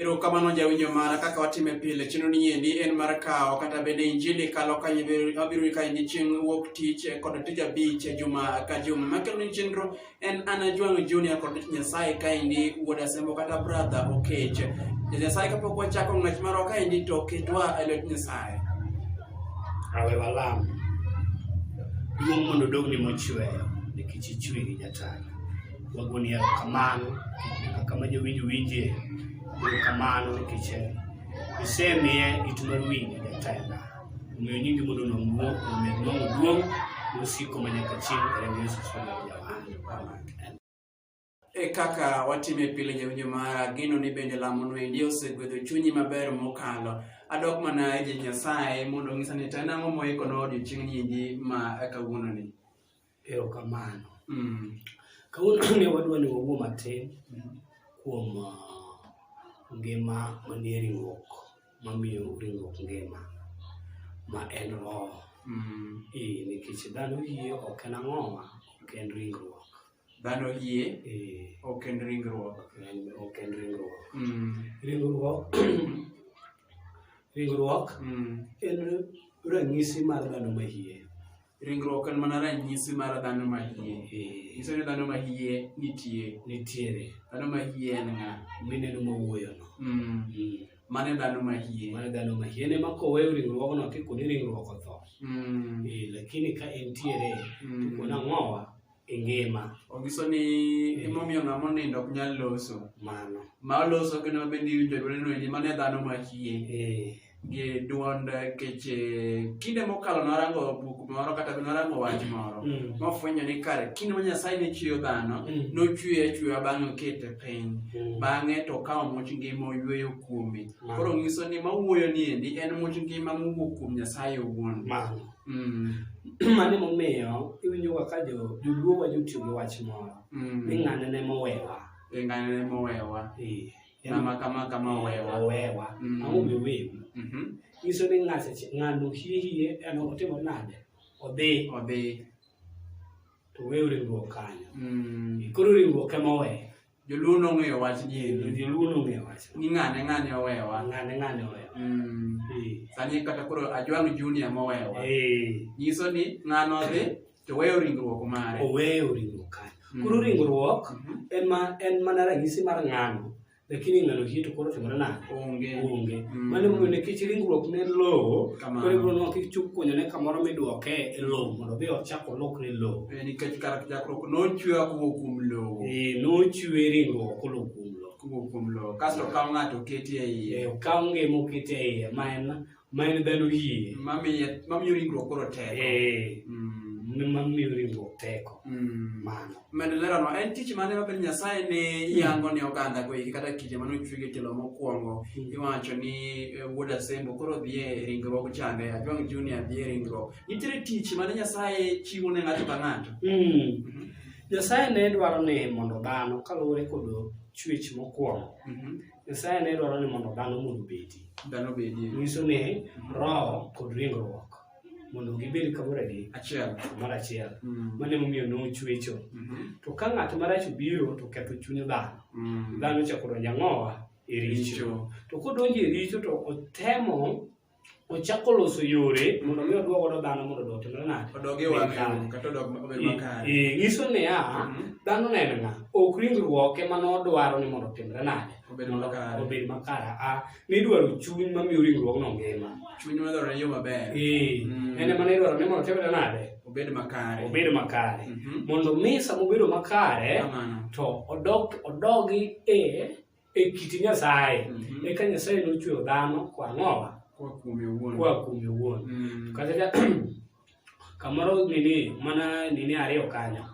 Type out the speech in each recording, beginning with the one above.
Ero kamano jawinjo mara kaka watime pile chino ni endi en mar kawo kata bende injili kalo ka wabiro ka ni chieng' wuok tich eh, kod tich abich eh, juma ka juma makelo ni chenro en an ajwang' junior kod nyasaye ka endi wuod asembo kata brother okech nyasaye kapok wachako ng'wech marwa ka endi to ketwa e lwet nyasaye awe walam duong' mondo dogni mochweyo nikech ichwiri jatana Wagoni erokamano kaka ma jowinjo winje, erokamano nikech isemiye it mar winjo jatenda. Omiyo nyingi mondo omed nong'o duong' mosiko ma nyaka chieng' e remb Yesu Kristo Jawar. E kaka watime pile jawinjo mara, gino ni bende lamono endi osegwedho chunyi maber mokalo. Adok mana e ji Nyasaye mondo onyisa ni to en ang'o moikonwa odiochieng'ni endi ma kawuononi. Erokamano. Mm. Kawuono ne wadwa ni wawuo matin mm. kuom uh, ngima manie ringruok mamiyo ringruok ngima ma en roho. Mm. Eh, nikech dhano yie ok en ang'oma, ok en ringruok. Dhano yie eh. ok en ringruok. Ok en ringruok. Mm. Ringruok ringruok mm. en ranyisi mar dhano ma yie. Ringruok en mana ranyisi mar dhano ma hie. Eh. Nyiso ni dhano ma hie nitie. Nitiere. Dhano ma hie en ng'a? Mineno ma wuoyono. Mm. Mm. Mane dhano ma hie. Mane dhano ma hie. En ema koweyo ringruogno kikoni ringruok otho. Mm. Eh, lakini ka entiere, mm. kona ng'owa, e ngima. Onyiso ni emomiyo ng'ama onindo ok nyal loso. Mano. Ma oloso kendo mabe ni winjo dwonde noendi mano e dhano machie. Eh. Gi dwond kech kinde mokalo narango buk moro kata narango wach moro. Mm. Mofwenyo ni kare kinde ma Nyasaye ne chweyo dhano, mm. nochweye achweya bang'e okete piny. Mm. Bang'e to okawo much ngima oyweyo kuome. Koro nyiso ni mawuoyo ni endi en much ngima mowuok kuom Nyasaye owuon. Mano. Mm. mano emomiyo iwinjoga ka jo- joluo wajo tiyo gi wach moro Mm. ni ng'ane ne mowewa E ng'ane ne mowewa. Eh, en- Ng'ama kama kama owewa. owewa Mm. ang'o miwewu Mhm. nyiso ni ng'ato ch- ng'ano hihiye en otimo nade odhi Odhi. to wew riwruok kanyo Mm. koro riwruok ema owe Joluo nong'eyo wach gini. Joluo nong'eyo wach. Ni ng'ane ng'ane owewa. Ng'ane ng'ane owewa. Mm. Sani kata koro Ajwang' Junior mowewa. Nyiso ni ng'ano dhi to weyo ringruok mare. Oweyo ringruok kare. Mm. Koro ringruok mm-hmm. en ma en mana ranyisi mar ng'ano. Lakini ng'ano hii to koro timore nade? Onge. Onge. Mm. Mano mondo nikech ringruok ne lowo, koro ibiro nwa kik chuk kuonyo ne kamoro midwoke e lowo mondo odhi ochak olokre lowo. Nikech kar chakruok nochwewa kowuok kuom lowo. Eh, nochwe ringruok kolo kuom lowo. Kowuok kuom lowo. Kasto okaw ng'ato oketi e iye. Eh, okaw ngima oketi e iye ma en ma en dhano yie. Mamiye mamiyo ringruok koro teko. Eh. Mm. Mamiyo ringruok teko. Mm. Mano. Medo leronwa en tich mane ma Nyasaye ne mm. yango ne oganda go iki kata kinde mane ochwege telo mokwongo mm. iwacho ni eh, wuod Asembo koro dhi e ringruok chande Ajwang' Junior dhi e ringruok Nitiere tich mane Nyasaye chiwo ne ng'ato ka ng'ato. Mm. Nyasaye ne dwaro ni mondo dhano kaluwore kod chwech mokwongo. Mm -hmm. Nyasaye ne dwaro ni mondo dhano mondo obedi. Dhano obedi. Nyiso ni mhm. roho kod ringruok mondo gibed kamoro gi achiel kamoro achiel mm. mano emomiyo nochwecho mm -hmm. to ka ng'at marach obiro to ketho chuny dhano mm. dhano chako donjo ang'owa e richo to kodonjo e richo to otemo ochako loso yore mondo mi odwog godo dhano mondo odog timre nade odog e wang' yo kata odog obed makare Eh, nyiso niya Mhm. dhano ne en ng'a ok ringruok ema nodwaro ni mondo otimre nade Obed Mondo makare. obed makare a nidwaro chuny mamiyo ringruogno ngima chuny madwaro ne yo maber Eh, Mm. en ema nidwaro ni mondo otimre nade obed makare obed makare Mhm. mondo mi sama obedo makare Kamano. to odog odogi e e kit Nyasaye mhm. eka Nyasaye nochweyo dhano kwa ng'owa kwa kuome owuon kwa kuome owuon mm. kata ka kamoro nini mana nini ariyo kanyo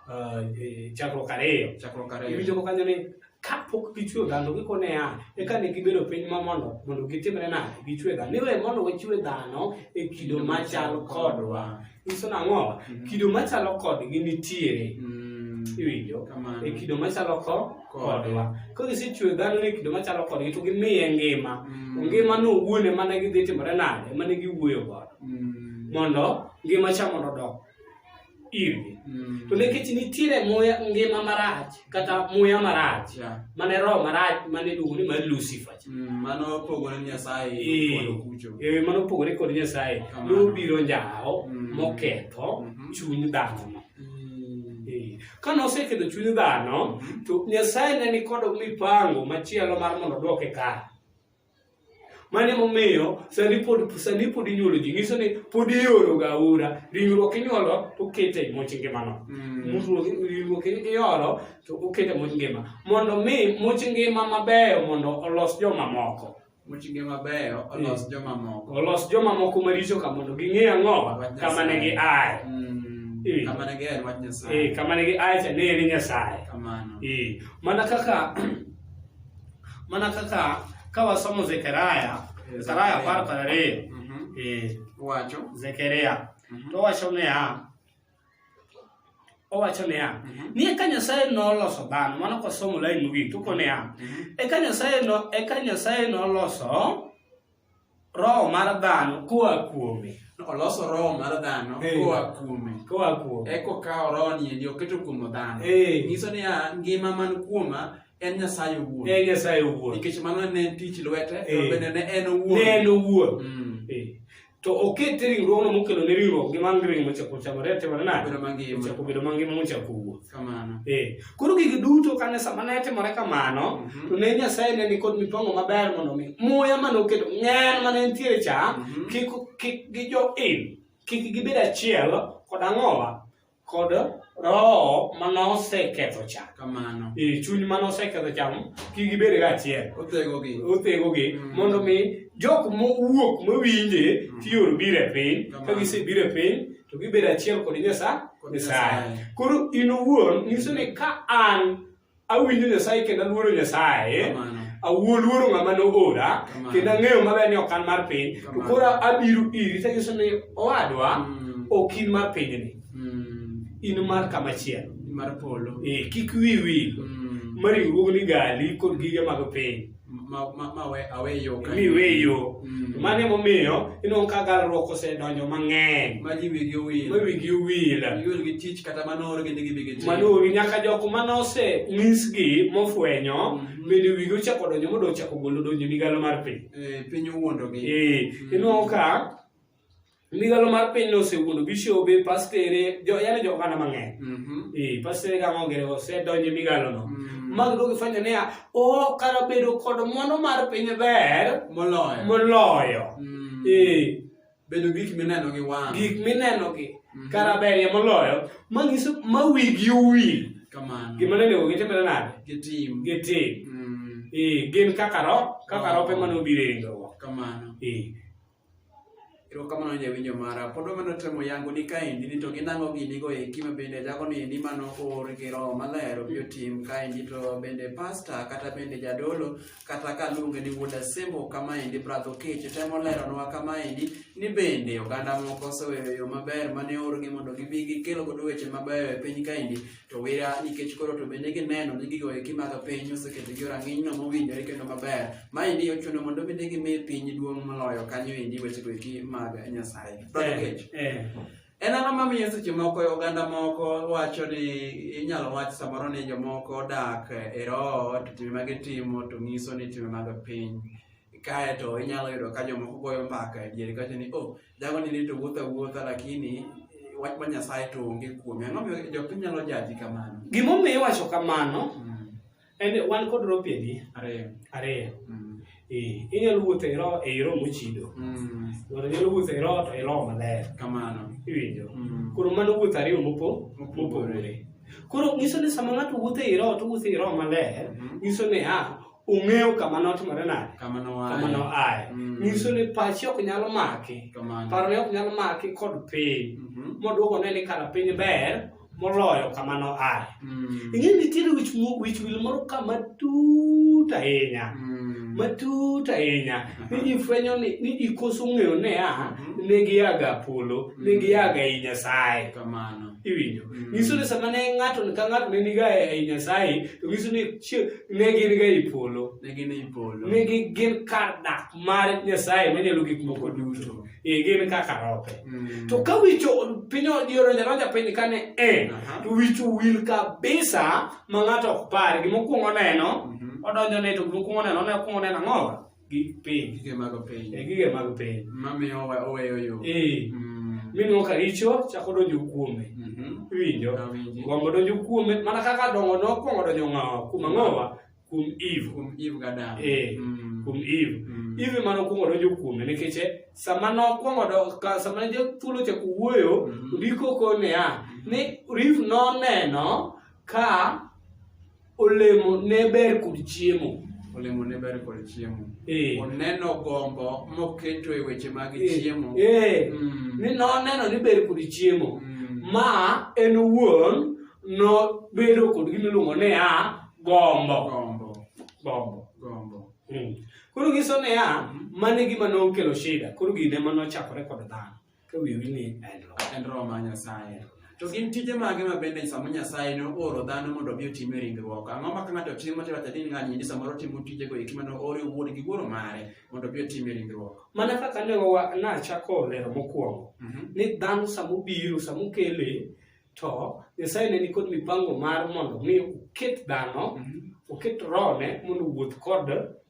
uh, e, chakruok ariyo chakruok ariyo iwinjo ko kanyo ni kapok gichweyo dhano gikone ya eka ne gibedo piny ma mondo mondo gitimre nade gichwe dhano niwe mondo wachwe dhano e kido machal kodwa nyiso nang'o mm-hmm. kido machalo kodgi nitiere mm. iwinjo e kido machalo ko kodwa ka gisechwe dhano ni kido machalo kodgi to gimiye ngima mm. ngima no wuone mane gidhi timore nade mane giwuoyo godo mm. mondo ngima cha mondo odok irgi to nikech nitiere muya ngima marach kata muya marach Yeah. mane roho marach mane iluongo ni mar lucifer cha. Mm, Mano opogore ni Nyasaye Eh. kod okucho. Eh, mano opogore kod nyasaye Kamano. nobiro njawo Mm. moketho Mhm. chuny dhanono Mm. Eh, ka noseketho chuny dhano to nyasaye ne nikod mipango machielo mar mondo odwoke kare Mane momiyo sani pod sani pod inyuolo ji nyiso ni pod ioro ga aora ringruok inyuolo to okete e much ngimano mm. ringruok inyuolo to okete e much ngima mondo mi much ngima mabeyo mondo olos jomamoko much ngima mabeyo olos mm. jomamoko olos jomamoko maricho ka mondo ging'e ang'o kama ne gi aye mm. eh. kama ne gi aye wach nyasaye eh, kama ne gi aye cha ne ni nyasaye kamano eh. mana kaka Mana kaka ka wasomo Zekaria, Zekaria apar kod ariyo mhm. eh, wacho Zekaria mhm. to wacho niya owacho niya mhm. ni eka nyasaye noloso dhano mano kosomo lain mogik toko niya eka nyasaye no eka nyasaye noloso roho mar dhano koa kuome oloso roho mar dhano koa kuome koa kuome eka okawo roho niendi oketo kuom dhano nyiso niya ngima man kuoma en nyasaye owuon en nyasaye owuon nikech mano ne en tich lwete to bende ne en owuon ne en owuon mm. to oket ringruogno mokelo ne ringruok gi man gi ring mochako chamore atimore nade mochako bedo mangima mochako wuoth Kamano. Eh. Koro gigi duto kane sama ne timore kamano, mm -hmm. to ne Nyasaye ne ni kod mipango maber mondo mi muya mane oketo ng'en mane nitiere cha mm -hmm. kik kik gi jo in kik gibed achiel kod ang'owa kod roho mane oseketho cha. Kamano. Eh, chuny mane oseketho cha kik gibed ga achiel. Othego gi. Othego gi mm -hmm. mondo mi jok mowuok mowinje mm -hmm. tiyor bire piny ka gisebire piny to gibedo achiel kod Nyasaye. Nyasaye. Koro in owuon nyiso ni ka an awinjo Nyasaye kendo aluoro Nyasaye, Kamano. awuo luoro ng'ama noora Kamano. kendo ang'eyo maber ni ok an mar piny, to Kamano. koro abiro iri to anyiso ni owadwa Mm. ok in mar pinyni, Mm. in mar kama chielo. Mar polo. Eh, kik wiyi wil. Mm. ma ringruogni gali kod gige mag piny. ma- ma- ma we- awe yo ka- mi we yo Mm. mano emomiyo ineno ka galruok osedonjo mang'eny ma ji wigi owil ma wigi owil iol gi tich kata mano oro gende gibi gi tich. manuogi nyaka jok mane ose nyisgi mofwenyo Mhm. bende wigi ochako donjo mondo ochako golo donjo migalo mar piny Eh, piny owuondogi Eh, ineno ka ligalo mar piny nosewuondo bishobe pastere jo yani jo oganda mang'eny mm-hmm. e pastere ga mogere osedonje migalo no mm-hmm. mag dogi fanya ne a o kara bedo kod mono mar piny ber moloyo moloyo mm-hmm. e bedo gik mineno gi wang gik mineno gi kara ber ya moloyo mangiso mawigi uwi kamano gima nene ogi tembele nade gitim gitim e gin kaka ro kaka rope mano biro e ringo kamano e Erokamano ni jawinjo mara. Pod wameno temo yango ni kaendi ni to ginang'o gini go eki ma bende jago ni ni mano or gi roho maler obiro tim kaendi to bende pasta kata bende jadolo kata ka luonge ni wuod asembo kamaendi bradho kech temo leronwa kamaendi ni bende oganda moko oseweyo yo maber mane orgi mondo gibi gikelo godo weche mabeyo e piny kaendi to wira nikech koro to bende gineno ni gigo eki mag piny oseketogi rang'inyno mowinjore kendo maber ma endi ochuno mondo bende gimi piny duong' moloyo kanyo endi wechego eki mag nyasaye eh, eh. en ang'o mamiyo seche moko e oganda moko wacho ni inyalo wach samoro ni jomoko odak e roho to time ma gitimo to ng'iso ni time mag piny kae to inyalo yudo ka jomoko goyo mbaka e diere kawacho ni o oh, jago ni rito wuotha wuotha lakini wach ma Nyasaye to onge kuome. Ang'o miyo jopiny nyalo jaji kamano? Gima omiyo iwacho kamano mm. en wan kod ropiegi ariyo. Ariyo. Mm. Eh, inyalo wuotho e roho e roho mochido. Mm. Ng'ato nyalo wuotho e roho to e roho maler. Kamano. Iwinjo. Mm. Koro mano wuotho ariyo mopo mopogore. Koro nyiso ni sama ng'ato wuotho e roho to wuotho e roho maler, mm-hmm. nyiso ni ah ung'eyo kama notimore nade kama noaye mm. nyiso ni pachi ok nyal maki parone ok nyal maki kod piny mm-hmm. moduoko ne ni kara piny ber moloyo kama noaye mm. ing'e nitiere wich wil moro kama tut ahinya mm. matut ahinya ni ji fwenyo ni ji koso ng'eyo ne a mm-hmm. ne giyaga polo ne giyaga i nyasaye iwinjo mm. nyiso ni sama ne ng'ato ka ng'ato ne niga e, e nyasaye to nyiso ni ne gin ga e polo ne gin e polo ne gin kar dak mar nyasaye manyalo gik moko duto e gin kaka rope mm. to ka wicho piny odioro jaroja piny kane en to wicho wil kabisa ma ng'ato ok par gimokwongo neno mm-hmm. odonjo ne to gimokwongo neno ne okwongo neno ang'owa gi piny gige mag piny e gige mag piny mamiyo oweyo yo eh mm. minwo ka richo chako donjo kuome mm-hmm. iwinjo gombo donjo kuome mana kaka dongo nokwongo donjo ng'awa kuom ang'owa kuom eve kuom eve gadam eh mm. kuom eve mm. eve mane okwongo donjo kuome nikech eh, sama nokwongo sama ne thuolo chako wuoyo mm-hmm. ndiko kone ya ni riv noneno ka Olemo ne ber kod chiemo. Olemo ne ber kod chiemo. Eh. Oneno gombo moketo e weche mag eh. chiemo. Eh. Mm. Ni noneno ni ber kod chiemo. Mm. Ma en wuon nobedo kod gima iluongo ni a gombo. Gombo. Gombo. Gombo. Mm. Koro giso ni a mm. mane gima nokelo shida. Koro gine manochakore kod dhano. ka wiwi ni en roho mar Nyasaye. To gin tije mage ma bende sama Nyasaye ne ooro dhano mondo obi otim e ringruok? Ang'o ma ka ng'ato timo to iwacho ni ng'ani endi samoro timo tijego eki mane oore wuon gi wuoro mare mondo obi otim e ringruok? Mana kaka ne wa- nachako lero mokwongo Mhm. ni dhano sama obiro sama okele to Nyasaye ne nikod mipango mar mondo mi oket dhano Mhm. oket rohone mondo owuoth kod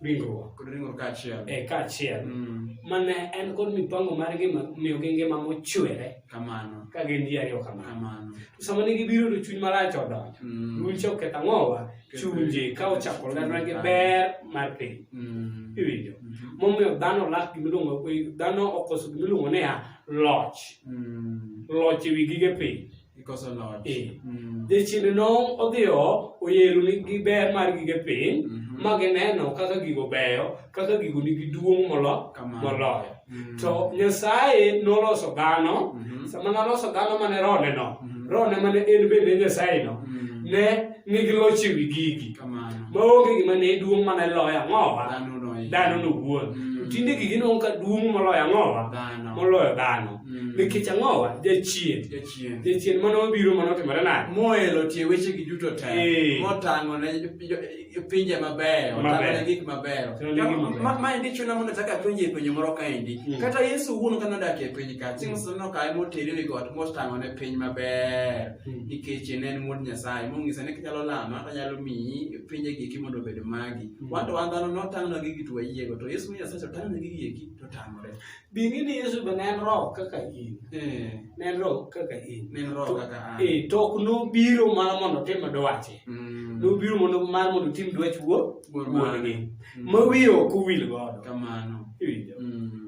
ringruok Kod ringruok kaachiel. e kaachiel Mm, mane en kod mipango mar ngima miyogi ngima mochwere Kamano. ka gin ji ariyo kamano Kamano. to sama ne gibiro to chuny marach odonjo Mm, duol cha oketho ang'owa chunje ka ochako lerna gi ber mar piny mm, iwinjo mhm. momiyo dhano lak gimiluongo dhano okoso gimiluongo niya loch Mm. loch ewi gige piny Ikoso loch. Eh. Mm. jachien nong' odhiyo oyero ni gi ber mar gige piny Mhm. ma gineno kaka gigo beyo kaka gigo nigi duong' molo- Kamano. moloyo Mm. to nyasaye noloso dhano Mhm. sama noloso dhano mane roneno Mhm. rone mane en bende nyasayeno Mhm. ne ni gilocho e wi gigi kamano maonge gima ne duong' mane loyo ang'owa dhano noyie dhano nowuon Mm. to tinde gigi nongo ka duong' moloyo ang'owa dhano moloyo dhano Mm. nikech ang'owa jachien jachien jachien mane obiro mane otimore nade moelo tie wechegi duto te Eh. motang'o ne jo- pinje mabeyo Mabeyo. otang'o ne gik mabeyo Otang'o ne gik mabeyo. Ma- maendi chuna mondo achak apenje e penjo moro kaendi Mm. kata yesu wuon kane odak e piny ka chieng' moseneno kae motere wi got motang'o ne piny maber hmm. nikech ne en wuod Nyasaye mong'ise ni kinyalo lama to anyalo miyi pinje giki mondo obed magi. Hmm. Wan to wan dhano notang'nwa gigi to wayiego to Yesu ni Nyasaye otang'ne gigi eki to tamore. Bi ng'i ni Yesu be ne en roho kaka in. Eh. Ne en roho kaka in. Ne en roho kaka an. Eh, to ok nobiro mana mondo otim dwache. Hmm. Nobiro mondo mar mondo otim dwach wuo wuon-gi. Ma wiye ok owil godo. Kamano. Iwinjo?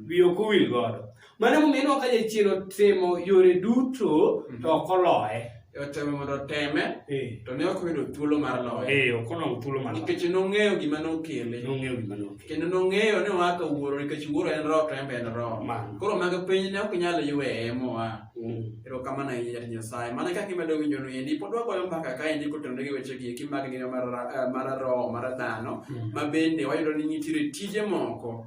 Wiye ok owil godo. Mano emomiyo ineno ka jachien otemo yore duto to ok oloye. Otemo mondo oteme Eh, to ne ok oyudo thuolo mar loye eh, ok olong thuolo mar loye. nikech nong'eyo gima nokele Nong'eyo gima nokele. kendo nong'eyo ni oa ka wuoro nikech wuoro en roho to en be en roho Mano. koro mag piny ne ok nyal yweye moa Mm. erokamano ahinya jatich nyasaye mana kaka imedo winjo nu endi pod wagoyo mbaka ka endi kotenore gi weche gieki mag ngima mar ra- eh, mar roho mar dhano ma bende wayudo ni nitiere tije moko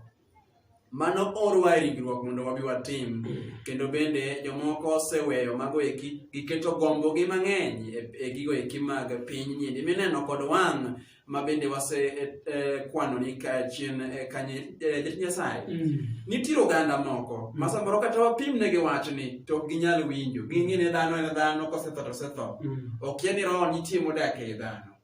mano orwa e ringruok mondo wabi watim kendo bende jomoko oseweyo mago eki giketo gombogi mang'eny e, e gigo eki mag piny nyindi mineno kod wang' ma bende wase e, e, kwano ni kachien e, kanye jatich nyasaye mm. nitiere oganda moko ma samoro kata wapimnegi wachni to ok ginyal winjo ging'e ne dhano en dhano kosetho to osetho mm. okia ni roho nitie modak ei dhano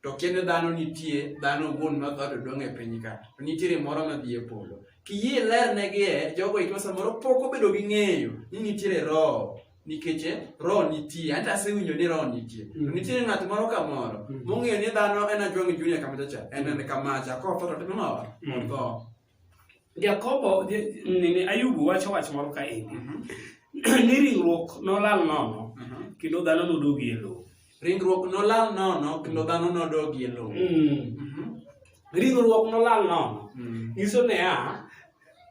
to kendo dhano nitie dhano gun ma dhado dong e piny ka to nitiere moro ma dhi e polo kiyie ler ne gi e jogo iko samoro pok obedo gi ng'eyo ni nitiere roho nikech eh, roho nitie anta asewinjo ni roho nitie to mm. nitiere ng'at moro ka moro mm. mong'eyo ni dhano en ajwang' junia kamacha cha en en kamacha kotho to timo mawa mm. otho Jakobo nini Ayubu wacho wach moro ka endi mhm. ni ringruok nolal nono mhm. kendo dhano nodogi e lowo. Ringruok nolal nono kendo dhano nodogi e lowo. Mm. Mhm. Ringruok nolal nono mm. nyiso niya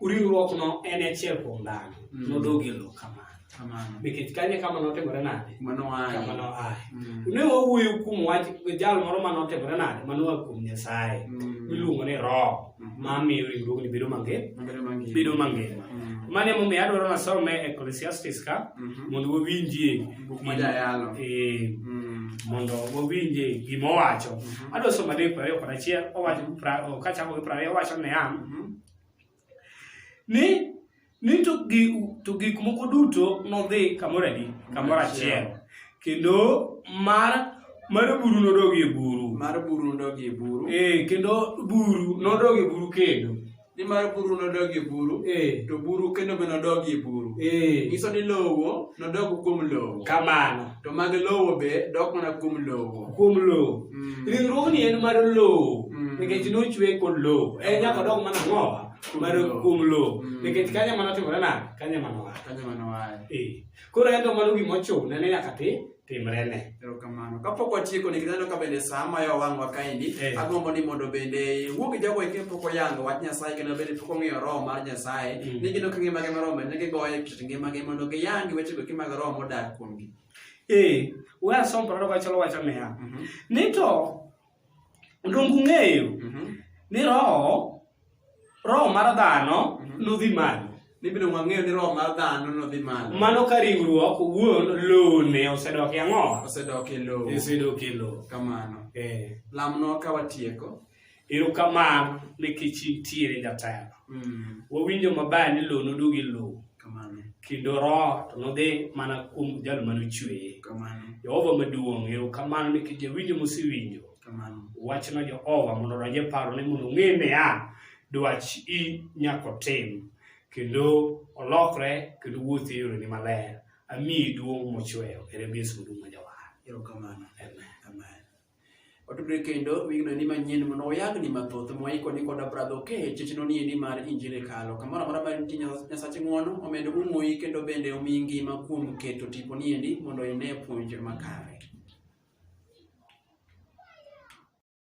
ringruokno en achiel kuom dhano nodogi e lowo kamano. Kamano. nikech kanye kama notimore nade Mano kama aye. noaye Mm. ne wawuoyo kuom wach jal moro ma notimore nade ma noa kuom nyasaye Mm. miluongo ni roho Mhm. ma miyo ringruogni bedo mangima Mabedo mangima. bedo mangima Mm. mano emomiyo adwaro nasome ecclesiastes ka Mhm. mondo wawinjie Buk ma jayalo. Eh, Mm. mondo wawinjie gima owacho Mhm. adwa somo adek prariyo kod achiel owacho pra- o- kachako gi prariyo owacho niya Mhm. ni ni to gik to gik moko duto nodhi kamoro adi kamoro achiel kendo mar mar buru nodogi e buru mar buru nodogi e buru eh kendo buru nodogi e buru kendo ni mar buru nodogi e buru eh to buru kendo be nodogi e buru eh nyiso ni lowo nodogo kuom lowo kamano to mag lowo be dok mana kuom lowo kuom lowo mm. ringruogni en mar lowo mm. nikech nochwe kod lowo en nyaka dok mana ng'owa mar kuom lowo mm. nikech kanya mana timore na kanya mana wa kanya mana wa eh koro en to mano gima ochune ne nyaka ti timre ne erokamano kapok watieko nikech aneno ka bende saa mayo wang'wa kaendi eh. agombo ni mondo bende wuog jago eke pok oyango wach nyasaye kendo bende pok ong'eyo roho mar nyasaye mm. ni gino ka ngimagi mar roho bende gigoye kit ngimagi mondo giyangi wechego ki mag roho modak kuomgi. Eh, we asom parado wacho wacho niya. Mm -hmm. Ni to dongu ng'eyo mm -hmm. ni roho roho mar dhano mm -hmm. nodhi malo. Ni bende wang'eyo ni roho mar dhano nodhi malo. Mano ka riwruok wuon lone osedok e ang'o? Osedok e lowo. Osedok e lowo. Kamano. Eh. Lamno ka watieko. Erokamano nikech intiere jatelo. Mm. Wawinjo maber ni lowo noduogi lowo. Kendo roho to nodhi mana kuom jal mane ochweye. Jehova maduong' erokamano nikech jawinjo mosewinjo. Wachno Jehova mondo odonj e paro ni mondo ong'e niya dwach i nyaka otim kendo olokre kendo wuoth e yoreni maler. Amiyi duong' mochweyo. Ere Yesu maduong' ma jawar. Erokamano. Amen. Watudre kendo wigno ni manyien mondo wayagni mathoth mwaiko ni koda bradho ke chechno ni ni mar injili kalo kamoro amora mar nitie Nyas- nyasache ng'wono omed umoyi kendo bende omi ngima kuom keto tipo ni endi mondo ine puonj makare